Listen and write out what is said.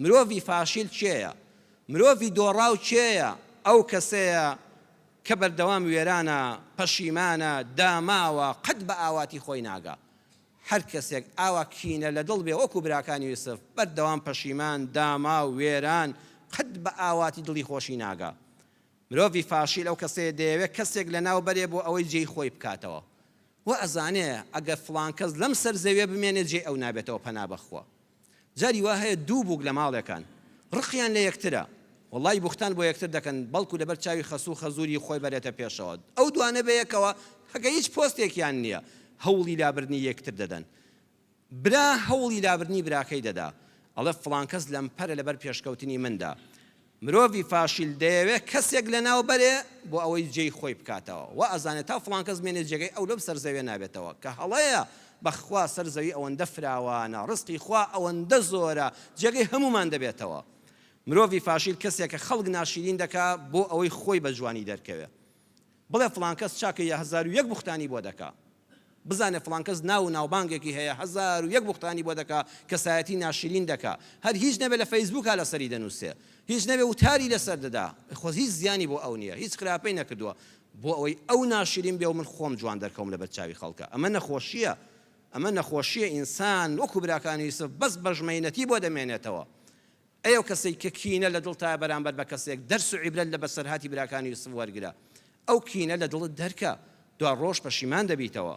مرۆڤی فاشیل کێیە؟ مرۆڤی دۆڕاو کێیە؟ ئەو کەسەیە کە بەردەوام وێرانە، پەشیمانە، داماوە، قەت بە ئاواتی خۆی ناگا. هەر کەسێک ئاوا کینە لە دڵ بێ وەکو براکانی یوسف، بەردەوام پەشیمان، داماو، وێران، قەت بە ئاواتی دڵی خۆشی ناگا. مرۆڤی فاشیل ئەو کەسەیە دەیەوێ کەسێک لەناو بەرێ بۆ ئەوەی جێی خۆی بکاتەوە. وائەزانێ ئەگەر فڵان کەس لەم سەر زەویە بمێنێ جێی ئەو نابێتەوە پەنا بەخوا. جاری وا هەیە دوو بووک لە ماڵێکان ڕقیان لە یەکترە وەڵای بوختان بۆ یەکتر دەکەن بەڵکو لەبەر چاوی خەسوو خەزووری خۆی بەرێتە پێشەوە ئەو دوانە بەیەکەوە هەگە هیچ پۆستێکیان نییە هەوڵی لابردنی یەکتر دەدەن برا هەوڵی لابردنی براکەی دەدا ئەڵێ فڵان کەس لەمپەرە لەبەر پێشکەوتنی مندا مرۆڤی فاشیل دەیەوێت کەسێک لەناو بەرێ بۆ ئەوەی جێی خۆی بکاتەوە وا ئەزانێت تا فڵان کەس بمێنێت جێگەی ئەو لەم سەر زەویە نابێتەوە کە هەڵەیە بەخوا سەر زەوی ئەوەندە فراوانە ڕزقی خوا ئەوەندە زۆرە جێگەی هەموومان دەبێتەوە مرۆڤی فاشیل کەسێکە خەڵک ناشیرین دەکات بۆ ئەوەی خۆی بە جوانی دەرکەوێت بڵێ فڵان کەس چاکە یا هەزار و یەک بوختانی بۆ دەکا. بزانێ فڵان کەس ناو و ناوبانگێکی هەیە هەزار و یەک بوختانی بۆ دەکا، کەسایەتی ناشرین دەکا. هەر هیچ نەبێ لە فەیسبووکا لەسەری دەنووسێ. هیچ نەبێ وتاری لەسەر دەدا. خۆ هیچ زیانی بۆ ئەو نییە. هیچ خراپەی نەکردووە. بۆ ئەوەی ئەو ناشرین بێ و من خۆم جوان دەرکەوم لەبەر چاوی خەڵکا. ئەمە نەخۆشییە. ئەمە نەخۆشییە ئینسان وەکوو براکانی یوسف بەس بەژمەینەتی بۆ دەمێنێتەوە. ئەی ئەو کەسەی کە کینە لە دڵتایە بەرامبەر بە کەسێک، دەرس و عیبرەت لە بەسەرهاتی براکانی یوسف وەرگرە. ئەو کینە لە دڵت دەرکە، دوا ڕۆژ پەشیمان دەبیتەوە.